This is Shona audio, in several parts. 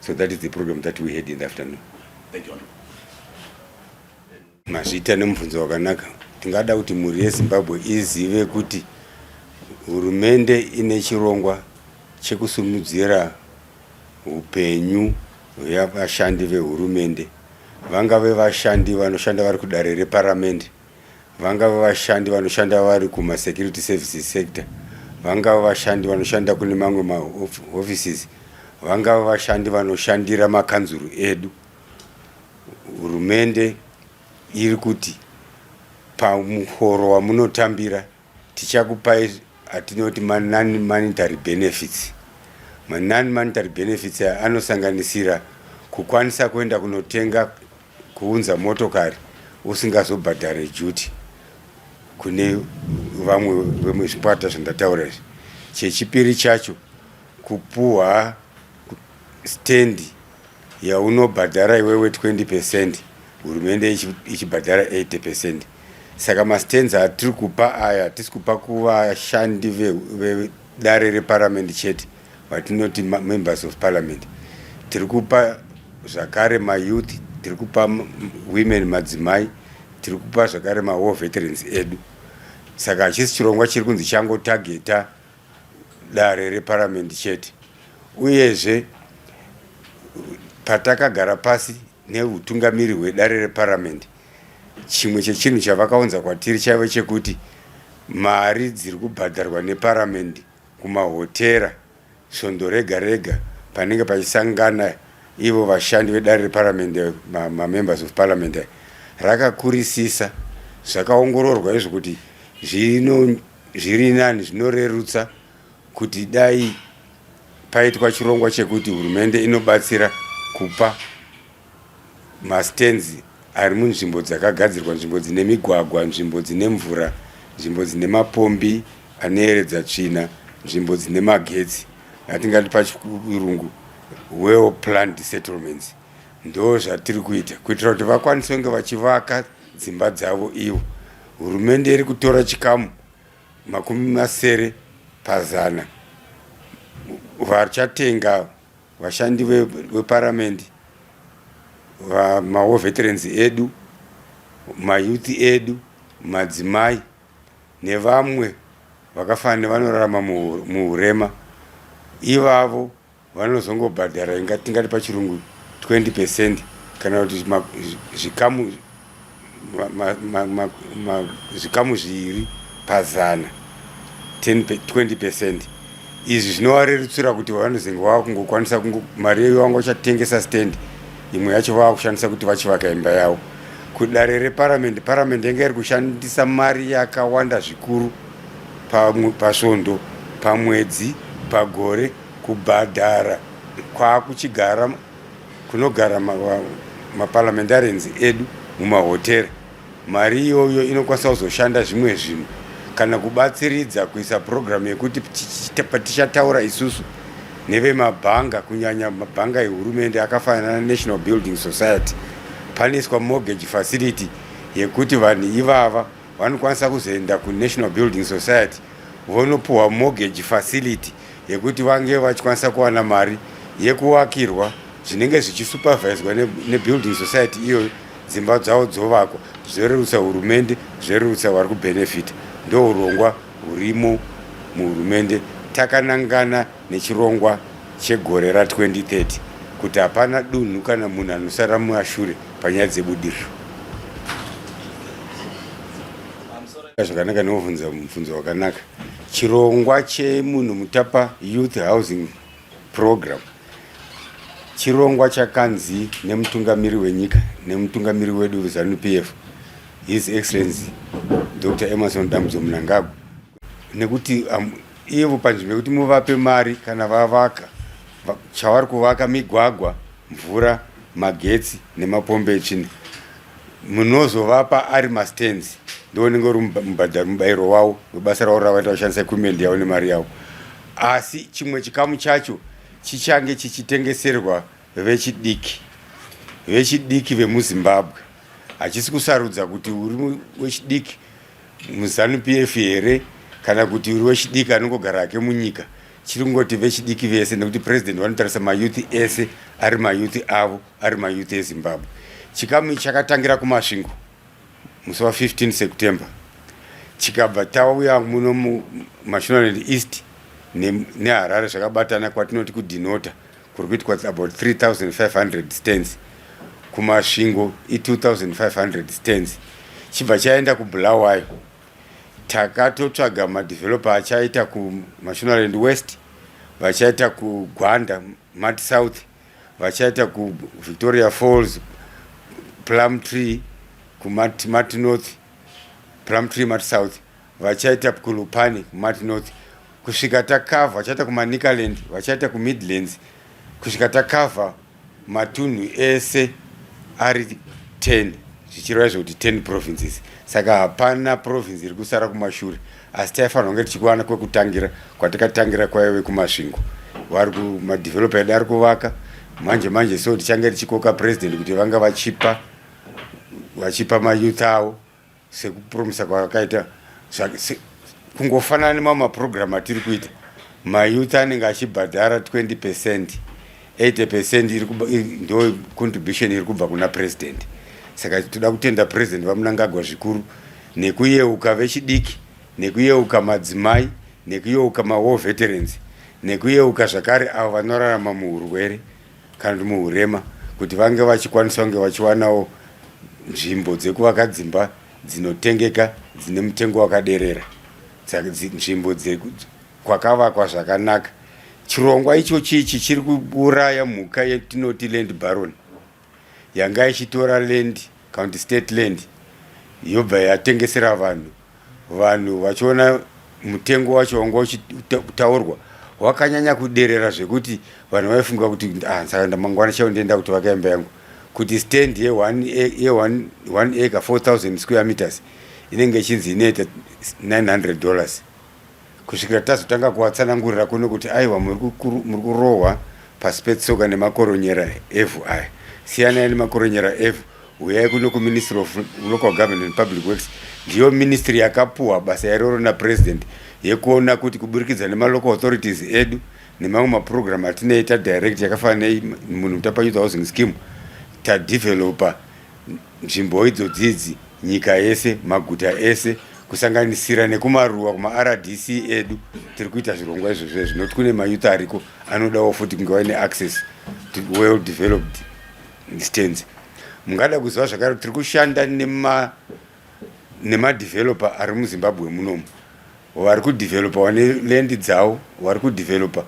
so that is the program that we had in the afternoon thank you mazvita nemubvunzo wakanaka tingada kuti mhuri yezimbabwe izive kuti hurumende ine chirongwa chekusumudzira upenyu hwevashandi vehurumende vangave vashandi vanoshanda vari kudare reparamende vangava vashandi vanoshanda vari kumasecurity services sector vangava vashandi vanoshanda kune mamwe maoffices vangava vashandi vanoshandira makanzuru edu hurumende iri kuti pamuhoro wamunotambira tichakupai atinoti manon monetary benefits manon monetary benefits anosanganisira kukwanisa kuenda kunotenga Kuunza motokari usingazobhadhare duty kune vamwe vemwe zvikwata zvandataura izvi. Chechipiri chacho kupuwa stand yaunobhadhara iwewe 20 percent hurumende ichibhadhara 80 percent. Saka mastands atiri kupa aya hatisi kupa kuvashandi vedare reparamende chete. Vatinoti members of parliament tiri kupa zvakare mayouth tiri kupa women madzimai tiri kupa zvakare mawar veterans edu saka hachisi chirongwa chiri kunzi changotageta dare reparamendi chete uyezve patakagara pasi neutungamiri hwedare reparamendi chimwe chechinhu chavakaunza kwatiri chaive chekuti mari dziri kubhadharwa neparamendi kumahotera svondo rega rega panenge pachisangana ivo vashandi vedare reparamende mamembers of parliament rakakurisisa zvakaongororwa izvo kuti zviri nani zvinorerutsa kuti dai paitwa chirongwa chekuti hurumende inobatsira kupa Mastands ari munzvimbo dzakagadzirwa, nzvimbo dzine migwagwa, nzvimbo dzine mvura, nzvimbo dzine mapombi anoyeredza tsvina, nzvimbo dzine magetsi, atingati pachirungu well planned settlements. Ndo zvatiri kuita kuitira kuti vakwanise kunge vachivaka dzimba dzavo ivo. Hurumende iri kutora chikamu makumi masere pazana vachatenga Vashandi veparamende, maWar Veterans edu, mayouth edu, madzimai nevamwe vakafanana nevanorarama muhurema ivavo vanozongobhadhara inga tingati pachirungu 20 percent kana kuti zvikamu zvikamu zviviri pazana 20 percent izvi zvinovarerutsira kuti vanozenge vava kungokwanisa mari yeyo vanga vachatengesa stand imwe yacho vava kushandisa kuti vachivaka imba yavo kudare reparamende paramende yanga iri kushandisa mari yakawanda zvikuru pasvondo pamwedzi pagore kubhadhara kwaakuchigara kunogara maparliamentarians ma edu mumahotera mari iyoyo inokwanisa kuzoshanda zvimwe zvinhu kana kubatsiridza kuisa purogiramu yekuti patichataura isusu nevemabhanga kunyanya mabhanga ehurumende akafanana nenational building society panoiswa mortgage facility yekuti vanhu ivava vanokwanisa kuzoenda kunational building society vonopuhwa mortgage facility yekuti vange vachikwanisa kuwana mari yekuvakirwa zvinenge zvichisuperviswa nebuilding society iyoyo dzimba dzavo dzovakwa zvorerutsa hurumende zvorerutsa vari kubenefita ndourongwa hurimo muhurumende takanangana nechirongwa chegore ra 2030 kuti hapana dunhu kana munhu anosara mumashure panyaya dzebudiriro. Zvakanaka neovhunza mubvunzo wakanaka. Chirongwa chemunhu mutapa youth housing program chirongwa chakanzi nemutungamiri wenyika nemutungamiri wedu zanu PF His Excellency Dr. Emerson Dambudzo Mnangagwa nekuti um, ivo panzvimbo yekuti muvape mari kana vavaka chavari kuvaka migwagwa mvura magetsi nemapombe echina munozovapa ari mastands ndo unenge uri mubhadharo mubayiro wavo webasa ravo ravaita kushandisa equipment yavo nemari yavo asi chimwe chikamu chacho chichange chichitengeserwa vechidiki vechidiki vemuzimbabwe hachisi kusarudza kuti uri wechidiki muZanu-PF here kana kuti uri wechidiki anongogara hake munyika chiri kungoti vechidiki vese nekuti president vanotarisa mayouth ese ari mayouth avo ari mayouth ezimbabwe chikamu chakatangira kumasvingo musi wa 15 september chikabva tauya muno mumashonaland east neharare zvakabatana kwatinoti kudhinota kuri kuitwa about 3500 stands kumasvingo i2500 stands chibva chaenda kubulawayo takatotsvaga madeveloper achaita kumashonaland west vachaita kugwanda mat south vachaita kuvictoria falls plum tree kumat north plum tree mat south vachaita kulupani kumat north kusvika takavha vachaita kumanicaland vachaita kumidlands kusvika takavha matunhu ese ari 10 zvichireva zvekuti 10 provinces saka hapana province iri kusara kumashure asi taifanira kunge tichikuwana kwekutangira kwatikatangira kwaive kumasvingo vari kumadevelopa edu ari kuvaka manje manje so tichange tichikoka president kuti vanga vachipa vachipa mayouth avo sekupromisa kwakaita kungofanana nemamwe maprogramu atiri kuita mayouth anenge achibhadhara 20 percent 80 percent ndo contribution iri kubva kuna president saka toda kutenda president vamunangagwa zvikuru nekuyeuka vechidiki nekuyeuka madzimai nekuyeuka mawar veterans nekuyeuka zvakare avo vanorarama muurwere kana kuti muhurema kuti vange vachikwanisa kunge vachiwanawo nzvimbo dzekuvaka dzimba dzinotengeka dzine mutengo wakaderera nzvimbo kwakavakwa zvakanaka chirongwa ichochi ichi chiri kuuraya mhuka yetinoti land baron yanga ichitora land county state land yobva yatengesera vanhu Vanhu vachiona mutengo wacho wanga uchitaurwa wakanyanya kuderera zvekuti vanhu vaifunga kuti ah, saka ndamangwana chaiwo ndienda kuti vaka imba yangu kuti stand ye one ye one one acre 4000 square meters inenge ichinzi inoita 900 dollars kusvikira tazotanga kuvatsanangurira kuno kuti aiwa muri kurohwa pasi petsoka nemakoronyera evhu aya siyanai nemakoronyera evhu huyai kuno kuministry of local government and public works ndiyo ministry yakapuwa basa yaroro napresident yekuona kuti kuburikidza nemalocal authorities edu nemamwe maprogramu atinei tadirect yakafanana nemunhu mutapanyudza housing scheme tadeveloper Nzvimbo idzodzi idzi nyika yese, maguta ese kusanganisira nekumaruwa kumaRDC edu tiri kuita zvirongwa izvozvo zvinoti kune mayouth ariko anodawo futi kunge vaine access to well developed stands. Mungada kuziva zvakare tiri kushanda nema nemadeveloper ari muzimbabwe munomu vari kudevelopa vane lendi dzavo vari kudevelopa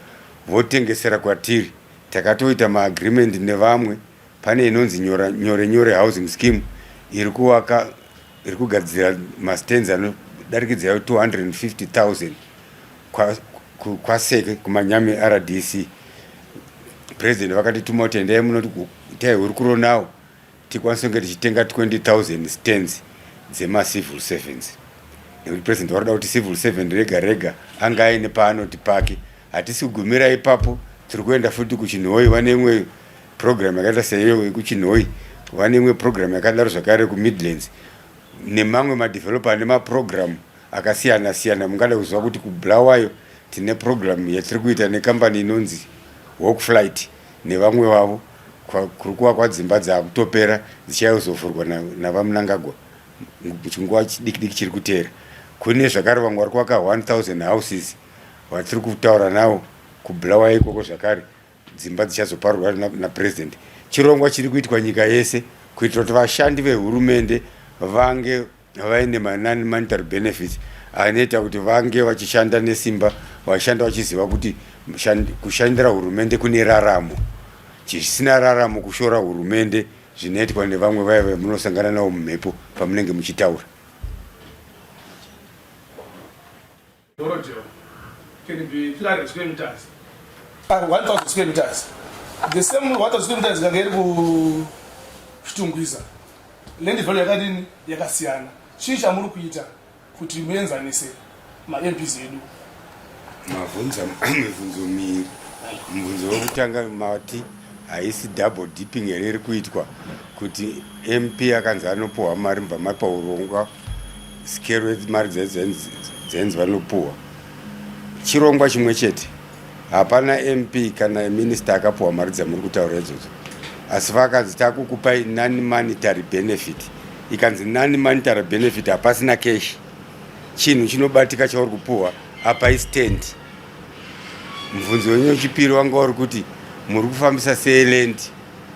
votengesera kwatiri takatoita maagreement nevamwe Pane inonzi nyora nyore nyore housing scheme iri kuvaka iri kugadzira mastands anodarikidza 250,000 kwaseke kumanyame rdc president vakatituma kuti endai munoti itai hurukuro nawo tikwanise kunge tichitenga 20000 stands dzemacivil servants nekuti president varoda kuti civil servant rega rega ange aine paanoti pake Hatisi kugumira ipapo, tiri kuenda futi kuChinhoyi, vane imwe program yakaita seiyo yekuChinhoyi, vane imwe program yakadaro zvakare kuMidlands nemamwe madeveloper ane maprogram akasiyana siyana. Mungada kuziva kuti kuBulawayo tine program yatiri kuita nekambani inonzi Hawk Flight nevamwe vavo kuri kuvakwa dzimba dzakutopera dzichayozovhurwa naVaMnangagwa muchinguva chidikidiki chiri kuteera. Kune zvakare vamwe vari kuvaka 1000 houses. Vatiri kutaura nawo kubulawa ikoko zvakare dzimba dzichazoparurwa napresident chirongwa chiri kuitwa nyika yese kuitira kuti vashandi vehurumende vange vaine manani monetary benefits anoita kuti vange vachishanda nesimba vashanda vachiziva kuti kushandira hurumende kune raramo chisina raramo kushora hurumende zvinoitwa nevamwe vaya vamunosangana navo mumhepo pamunenge muchitaura Borrowdale can be 300 square meters and 1000 square meters. The same 1000 square meters kange iri kuShitungwiza. Land value yakadini yakasiyana. Chii chamuri kuita kuti muenzanise maMPs edu? Mavhunza mivhunzo miri. Muvhunzo wekutanga mati haisi double dipping here iri kuitwa kuti MP akanzi anopuhwa mari mubva mapa urongwa Sikero mari dzenzi vanopuwa chirongwa chimwe chete hapana mp kana minista akapuwa mari dzamuri kutaura idzodzo asi vakanzi takukupai non monetary benefit ikanzi non monetary benefit hapasina cash chinhu chinobatika chauri kupuwa apa istand mubvunzo wenyu wechipiri wanga uri kuti muri kufambisa sei land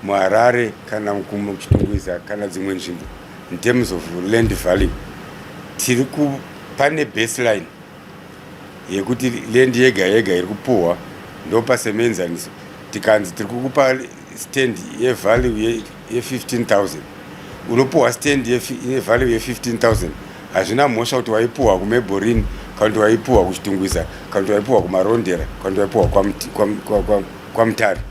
muHarare kana kuChitungwiza kana dzimwe nzvimbo in terms of land value tiri pane baseline yekuti land yega yega iri kupuhwa ndopasemenzaniso tikanzi tiri kukupa stand yevalue ye15000 unopuhwa stand yevalue ye15000 hazvina mhosva kuti waipuhwa kumeborini kana kuti waipuhwa kuchitungwiza kana kuti waipuhwa kumarondera kana kuti waipuhwa kwamutare kwa, kwa, kwa, kwa, kwa, kwa, kwa, kwa, kwa, kwa,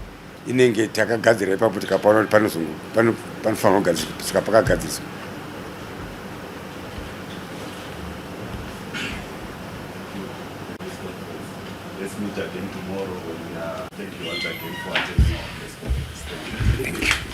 inenge takagadzira ipapo tikapaona kuti panofanirwa kugadzirwa saka pakagadziriswa Thank you.